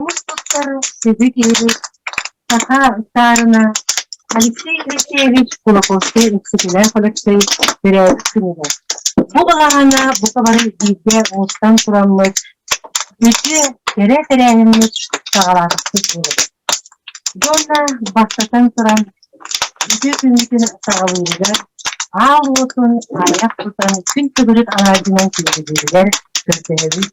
Сүбү киһини саха ыстаарына Алексей Алексеевич Кулаковскай Өксөкүлээх Өлөксөй төрөөбүтүнүнэ. Бу баҕаһына бука бары бииргэ уустан тураммыт үтүө кэрэ тэрээһиммит саҕалаатахпыт буолабыт. Дьонно бастатан туран үтүө күммүтүн саҕалыырыгар аал уотун аҕыйах тутан күн төгүрүк алаадьынан түһүлүлэр көрдөһөбүт.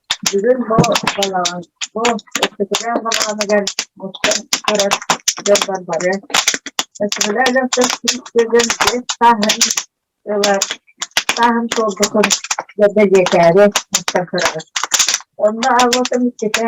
Бүгүн бу балаҕан бу эппэтэрээх балаҕаныгар оттон барар дьоннор бары эппэтэрээх дьонтон сүүс төгүл биэс сааһын ылар сааһын туолбутун да бэлиэтээри мустан көрөбүт. Онно аҕа отон иккитэ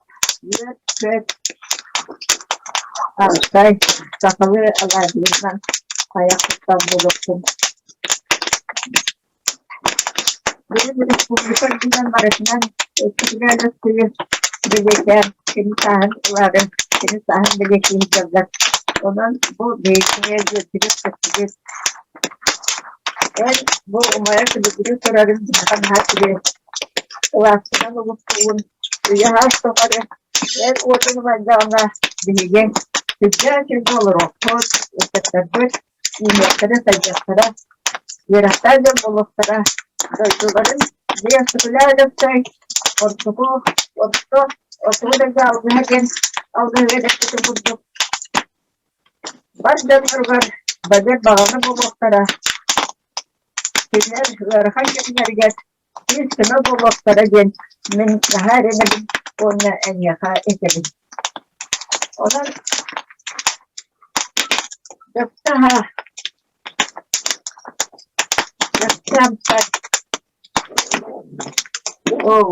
Аркай, сахалыы алаадьыларынан хайах тутар буолуохтун Республика үрдүнэн барытынан иккитигэр ыксыйын бэлиэтээн, кини сааһын ыларын, кини сааһын бэлиэтиир дьаллар. Онон бу бэйэтинэ дьиэтигэр көстүбүт. Эн бу умайа күлүгүрүү турарын наһаа сири Лаастан омуктуун уйаһа охтохоро эр уотун убайдаҕына биһигиҥ күрдьээ-күрдьээ олоруохпут, ыччаттарбыт үүнүөхтэрэ-сайдыахтара, үөрэхтээх дьон буолуохтара, дойдуларын бэйэ сөбүлээн өлөксөй, ордуку, орто, отуу дойду алгыһа диэн алгыһы эрэппитин курдук бар дьонноругар бэдэр баҕана буолуохтара Кинилэр ыарахан кэмнэригэр кыыс көмө буолуохтара диэн мин наһаа эрэнэбин уонна эйиэхэ этэбин Онон дьахтаһа дьахтаампат оо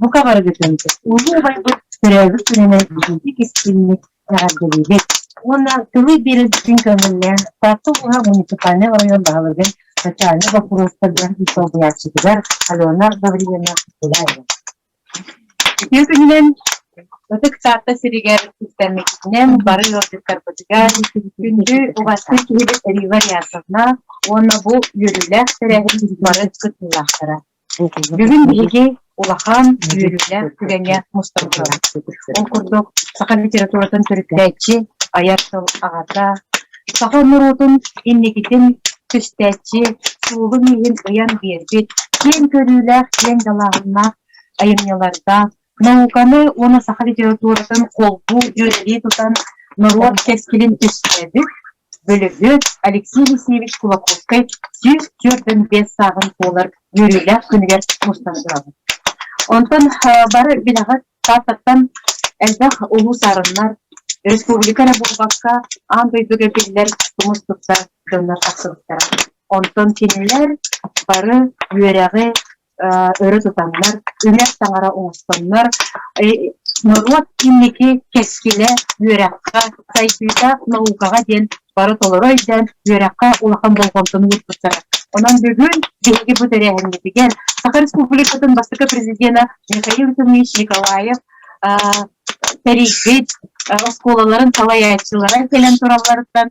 бука барыгытын улуубайбыт төрөөбүт күнүнэн биһиги кистинник эҕэрдэлиибит уонна тылы биэрэргитин көҥүллээн Таатта улууһа муниципальнай оройуон баһылыгын социальнай боппуруостарга солбуйааччытыгар Алена Гавриловна Куляева. Үтүө күнүнэн Ытык Таатта сиригэр кистэммитинэн бары ыалдьыттарбытыгар күндү уҕастык киһибит Эрива Рясовна уонна бу үөрүүлээх тэрээһин бары кыттыылаахтара. Бүгүн биһиги улахан үөрүүлээх түгэҥҥэ мустан турабыт. Ол курдук, саха литературатын төрүттээччи, айар тыл аҕата, саха норуотун инникитин түстээччи, суолун-ииһин ыйан биэрбит киэҥ көрүүлээх, киэҥ далааһыннаах айымньылардаах, науканы уонна саха литературатын холбуу дьүөрэлии тутан норуот кэскилин түстэбит бөлөгү Алексей Алексеевич Кулаковскай сүүс түөртөн биэс сааҕын туолар үөрүүлээх күнүгэр мустан турабын. Онтон бары билэҕит Тааттаттан элбэх улуу саарыннар, республика эрэ буолбакка, аан дойдуга биллэр тумустуктар дьоннор тахсыбыттара. Онтон кинилэр бары үөрэҕи, өрө тутаннар, үрэр таҥара оҥостоннор, норуот инники кэскилэ үөрэххэ, сайдыыта наукаҕа диэн бары толору өйдөөн, үөрэххэ улахан болҕомтону ууртустара. Онон бүгүн биһиги бу тэрээһиммитигэр Саха Республикатын бастакы президенэ Михаил Тумич Николаев тэрийбит оскуолаларын салайааччылара кэлэн туралларыттан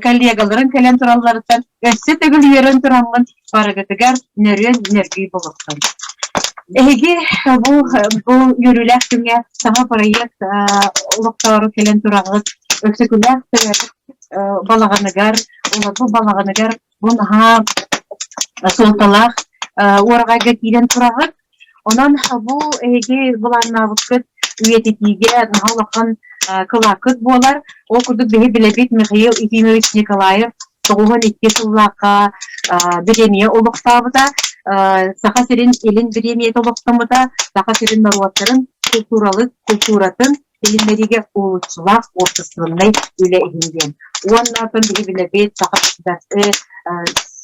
коллегаларын кэлэн туралларыттан өссө төгүл үөрэн тураммын барыгытыгар нөрүөн нөргүй болуктан. Эһиги бу бу үөрүүлээх күҥҥэ саҥа проект олохтоору кэлэн тураҕыт, өксөкүлээх балаҕаныгар, олорбу балаҕаныгар Бу наһаа суолталаах уораҕайга киирэн тураҕыт. Онон бу эһиги былааннаабыккыт үйэтитиигэ наһаа улахан кылааккыт буолар. Ол курдук биһи билэбит Михаил Ефимович Николаев тоҕуһун икки сыллаахха бириэмийэ олохтообута, Саха сирин илин бириэмийэтэ олохтомута, Саха сирин норуоттарын култууралык, култууратын Билинэриигэ куолуччулаах уопсастыбаннай үлэ иһин диэн. Уонна оттон биһибилэбит саха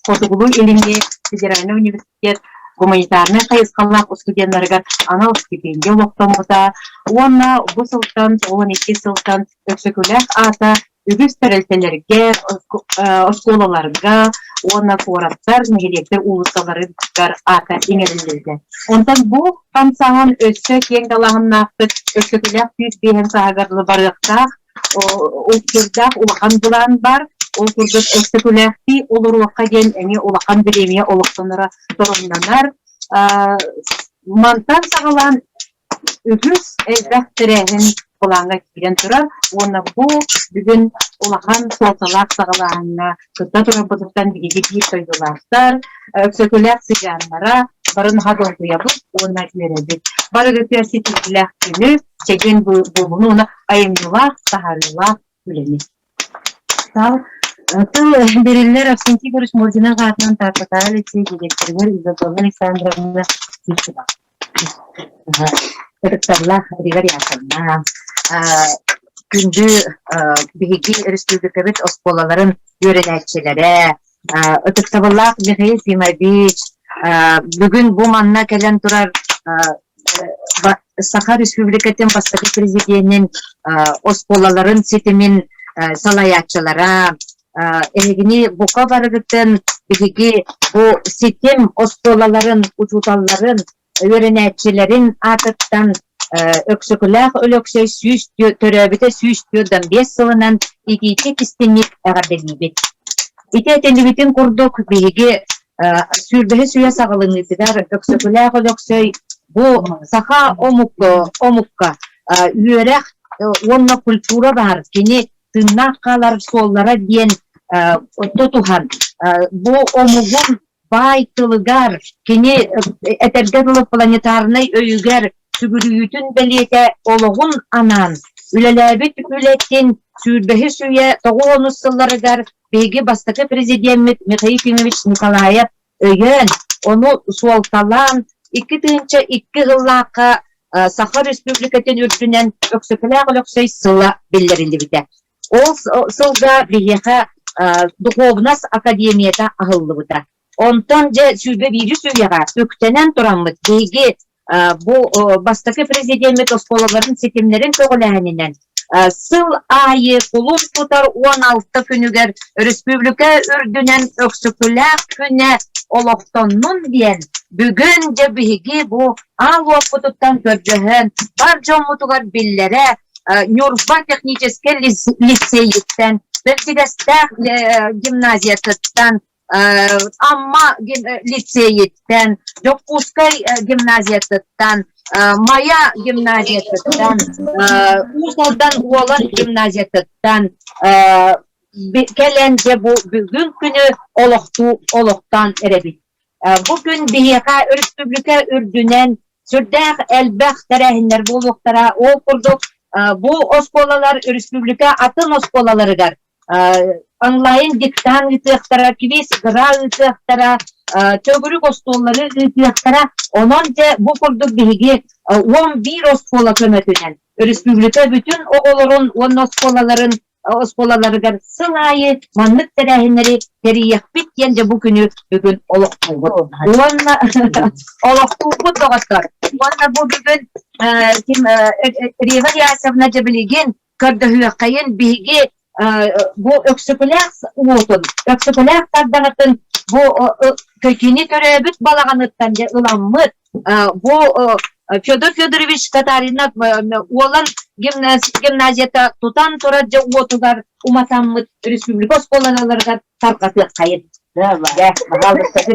хотугулуу илиҥҥи федеральнай университет гуманитарнай хайысхалаах устудьуоннарыгар анал стипендия олохтоммута уонна бу сылтан уон икки сылтан Өксөкүлээх аата үгүс тэрилтэлэргэ, оскуолаларга уонна куораттар, нэһилиэктэр уулуссаларыгар аата иҥэриллибитэ. Онтон бу хамсаһан өссө киэҥ далаһаннаахтык, өскөтүлээх сүүс биэһин сааһыгар барыахтаах, улахан былаан бар. Ол курдук өскөтүлээхтии олоруохха диэн эмиэ улахан бириэмийэ олохтоноро торумнанар. Мантан саҕалаан Үһүс элбэх тэрээһин былааҥҥа киирэн турар уонна бу бүгүн улахан суолталаах саҕалааһыҥҥа кытта турарбытыттан биһиги биир дойдулаахтар, Өксөкүлээх сыдьааннара барын наһаа долгуйабыт уонна үөрэбит. Барыгытыгар ситиһиилээх күнү, чэгиэн буолууну уонна айымньылаах, таһаарыылаах үлэни. Сал тыл бэриллэр Авсентий Егорович Мординов аатынан Тааттатааҕы лицей дириэктэригэр Изабелла Александровна Сивцева. Ытыкталлаах Игорь Яковна, күндү биһиги өрөспүүбүлүкэбит оскуолаларын үөрэнээччилэрэ, ытыктабыллаах Михаил Тимович, бүгүн бу манна кэлэн турар Саха Республикатын бастакы президенин оскуолаларын ситимин салайааччылара эһигини бука барыгытын биһиги бу ситим оскуолаларын учууталларын үөрэнээччилэрин аатыттан Өксөкүлээх Өлөксөй сүүс төрөөбүтэ сүүс түөртэн биэс сылынан итиитик истиҥник эҕэрдэлиибит. Ити этинибитин курдук биһиги сүүрбэһис үйэ саҕаланыытыгар Өксөкүлээх Өлөксөй бу саха омукка, омукка үөрэх уонна культура баар кини тыыннаах хаалар суоллара диэн тутуһан бу омугун баай тылыгар, кини этэргэ дылы планетарнай өйүгэр сүгүрүйүүтүн бэлиэтэ олоҕун анаан үлэлээбит үлэтин сүүрбэһис үйэ тоҕуонус сылларыгар Биһиги бастакы президеммит Михаил Ефимович Николаев өйөөн, ону суолталаан, икки тыһыынча икки сыллаахха Саха Республикатын үрдүнэн Өксөкүлээх Өлөксөй сыла биллэриллибитэ. Ол сылга биһиэхэ духуобунас академията аһыллыбыта. Онтон дьэ сүүрбэ биирис үйэҕэ үктэнэн тураммыт биһиги бу бастакы президеммит оскуолаларын ситимнэрин көҕүлээһининэн сыл аайы кулун тутар уон алта күнүгэр өрөспүүбүлүкэ үрдүнэн Өксөкүлээх күнэ олохтоннун диэн бүгүн дьэ биһиги бу аал уоппутуттан көрдөһөн бар дьоммутугар биллэрэ Ньурба техническэй лицейиттэн бэрсигэстээх гимназиятыттан Амма лицейиттэн, Дьокуускай гимназиятыттан, Майа гимназиятыттан, Уус Алдан Уолан гимназиятыттан кэлэн дьэ бу бүгүн күнү олохтуу олохтоон эрэбит. Бу күн биһиэхэ өрөспүүбүлүкэ үрдүнэн сүрдээх элбэх тэрээһиннэр буолуохтара. Ол курдук бу оскуолалар өрөспүүбүлүкэ атын оскуолаларыгар онлайн диктант ыытыахтара, квиз ГРА ыытыахтара, төгүрүк остуоллары ыытыахтара. Онон дьэ бу курдук биһиги уон биир оскуола көмөтүнэн өрөспүүбүлүкэ бүтүн оҕолорун уонна оскуолаларын оскуолаларыгар сыл аайы маннык тэрээһиннэри тэрийиэхпит диэн дьэ бу күнү бүгүн олохтуубут уонна олохтуубут доҕоттор уонна бу бүгүн ким Рева Ясовна Джабелигин көрдөһүөххэйин биһиги бу Өксөкүлээх уотун, Өксөкүлээх тардаҕытын бу кини төрөөбүт балаҕаныттан дьэ ыламмыт бу Федор Федорович Татаринов уолан гимназията тутан турар дьэ уотугар уматаммыт республика оскуолаларыгар тарҕатыаххайын. Баҕалыктаҕы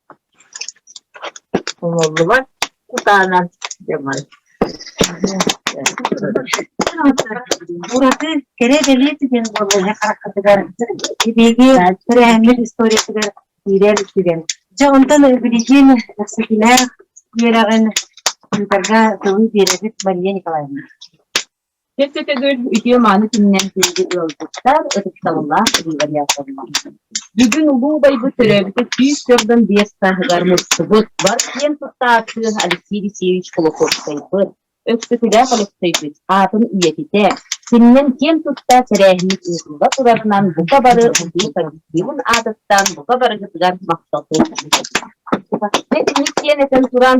Умуллубат кутаанан дьаҥай ураты кэрэ бэлиэ түгэн буолла иһэ хараххытыгар эбиги тэрээһиммит историятыгар киирэр түгэн дьэ онтон билигин кэпсэтимэх үөрэҕин тыындарга тылы биэрэбит мария николаевна Чэпчэки төгүл үтүө-мааны күнүнэн күндү ыалдьыттар, ытыктабыллаах революторлар! Бүгүн улуу убайбыт төрөөбүтэ сүүс төрдөн биэс сааһыгар мустубут, бар киэн туттааччы Алексей Алексеевич Кулаковскайбыт, Өксөкүлээх Алексейбыт аатын үйэтитэ, синнэн киэн тутта тэрээһиммит ыытылла турарынан бука бары утуу коллективын аатыттан бука барыгытыгар махталбын! Итинник киэн этэн туран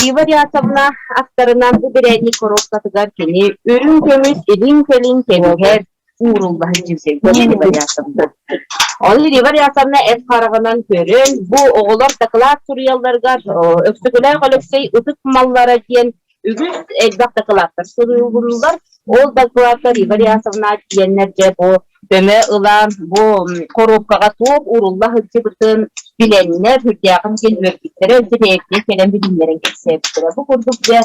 Рива Рясовна ахтарынан бу бирээдник коробкатыгар кини үрүҥ көмүс илин кэлин кэмигэр уурулла сылдьыбыта диэн Рива Рясовна. Ол Рива Рясовна эт хараҕынан көрөн, бу оҕолор дакылаат суруйалларыгар Өксөкүлээх Алексей ытык маллара диэн Үгүс элбэх дакылааттар суруйуллар. Ол дакылааттар Ивар Ясовна тиэннэр дьэ бу көмө ылан, бу коробкаҕа туох урулла сылдьыбытын билэннэр, үрдээҕин кин үөрбүттэрэ, интэриэккэ кэлэн билиннэрэн кэпсээбиттэрэ. Бу курдук дьэ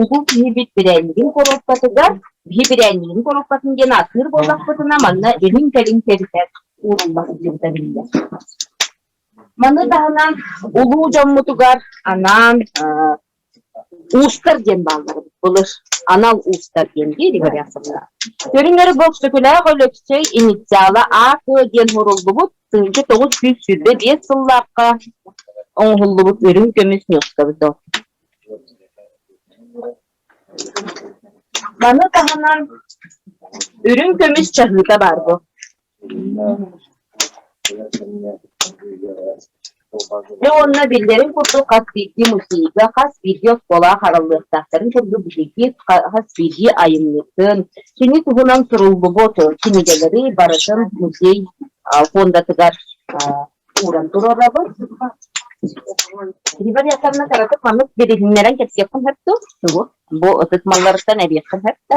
улуу киһибит бирээннигин коробкатыгар, биһи бирээннигин коробкатын диэн ааттыыр буоллахпытына, манна илин-кэлин кэбитэр урулла сылдьыбыта биллэр. Маны таһынан улуу дьоммутугар анаан Уустар диэн бааллар былыр анал уустар диэн дииригэр ясаллар. Көрүҥэр Бөксөкүлээх Өлөксөй инициала АК диэн суруллубут тыһыынча тоҕус сүүс сүүрбэ биэс сыллаахха оҥоһуллубут үрүҥ көмүс ньуоскабыта. Маны таһынан үрүҥ көмүс чаһыыта баар бу. Дьэ уонна биллэрин курдук хас биирдии музейга хас биирдии оскуолаҕа хараллыахтаахтарын курдук биһиги хас биирдии айымньытын, кини туһунан суруллубут кинигэлэри барытын музей фондатыгар ууран туруорабыт. Филиппа Виасовна кыратык маннык билиһиннэрэн кэпсиэххин сөп дуо? Бу ытык малларыттан эбиэххин сөп да?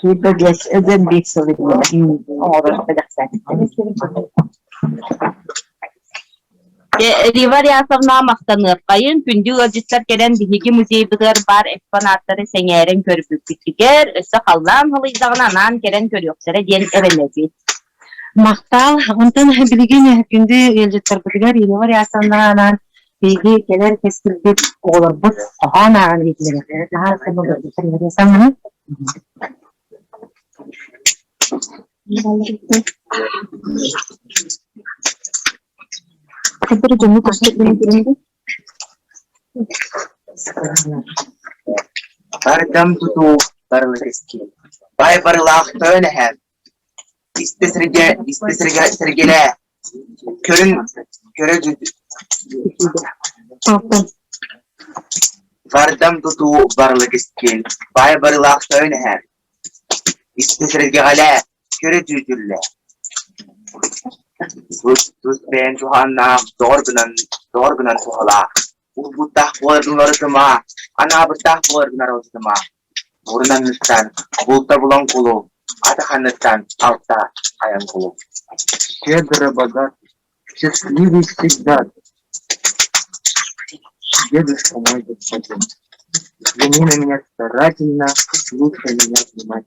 Филиппа биэс эдэн биир сыл оҥорор бэлэхтээтим. Рива Рясовна махтаныаххайын, күндү ыалдьыттар кэлэн биһиги музейбытыгар баар экспонаттары сэҥээрэн көрбүппүттүгэр, өссө халлаан халыйдаҕына анаан кэлэн көрүөхтэрэ диэн эрэнэбит. Махтаал. Онтон билигин күндү ыалдьыттарбытыгар Ирина Рясовнаҕа анаан Биһиги кэлэр кэскилбит оҕолорбут хоһоон ааҕан иитиллэрэ наһаа сымылдыттан саҥаны Сипер дьону көстük бинитинди. Бардам тутуу барылытыски. Бай барылаах төөлэһэн. Истэ сиргэ, истэ сиргэ, сэргэлээ, көрүн, көрө Вардам тутуу барыла кэскил, баай барыылаах тойон эһэр. Истэ сэргэҕэлээ, көрө түүтүллээ. Тус, тус бэйэн туһааннаах, доҕор гынан, доҕор гынан туһалаах. Улбуттаах буолар гынары тыма, анаабыттаах буолар гынары тыма. Мурун анныттан булта булан кулу, атах анныттан алта айан кулу. Кедробогат счастливый всегда, дедушка мой господин, взгляни на меня старательно, лучше меня внимать.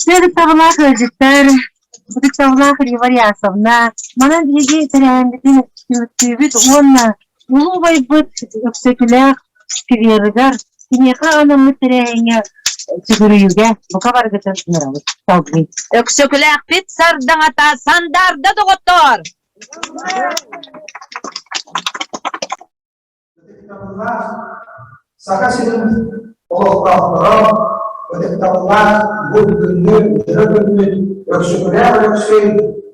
Сыырыктабылаах ыалдьыттар, ытыктабылаах Рима Реасовна, манан биһиги тэрээһиммитин түмүктүүбүт уонна улуу убайбыт Өксөкүлээх скверыгар, киниэхэ анаммыт тэрээһиҥҥэ сүгүрүйүүгэ бука барыгытын ыҥырабыт. Салгыы. Өксөкүлээхпит сардаҥата Сандаарда доҕоттоор! Саха сирин олохтоохторо ытыктабыллаах бу күҥҥү дьыра күммүн Өксөкүлээх Өксөй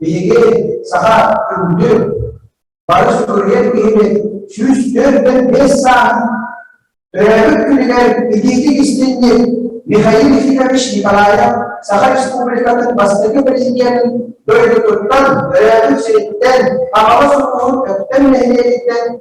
биһиги саха күндү бары суруйар киһибит сүүс төрдөн бес саан төрөөбүт күнүгэр илиитик истинньит Михаил Ефимович Николаев Саха Республикатын бастакы президентин дойдутуттан төрөөбүт сириттэн Хаҥалас улууһун Өктөм нэһилиэгиттэн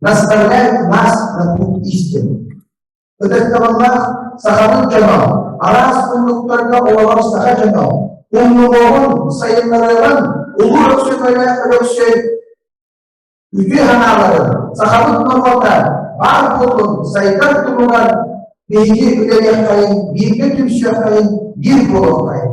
Наставляет нас на путь истины. Ытыктабыллаах сахабыт дьоно, араас муннуктарга олорор саха дьоно, умнугоҕун, сайыннарыаҕын улуу Өксөкөлөөх Өлөксөй үтүө санааларын, сахабыт норуота баар буолун сайдар туругар биһиги үлэлиэххэйин, бииргэ түмсүөххэйин, биир буолуоххайын.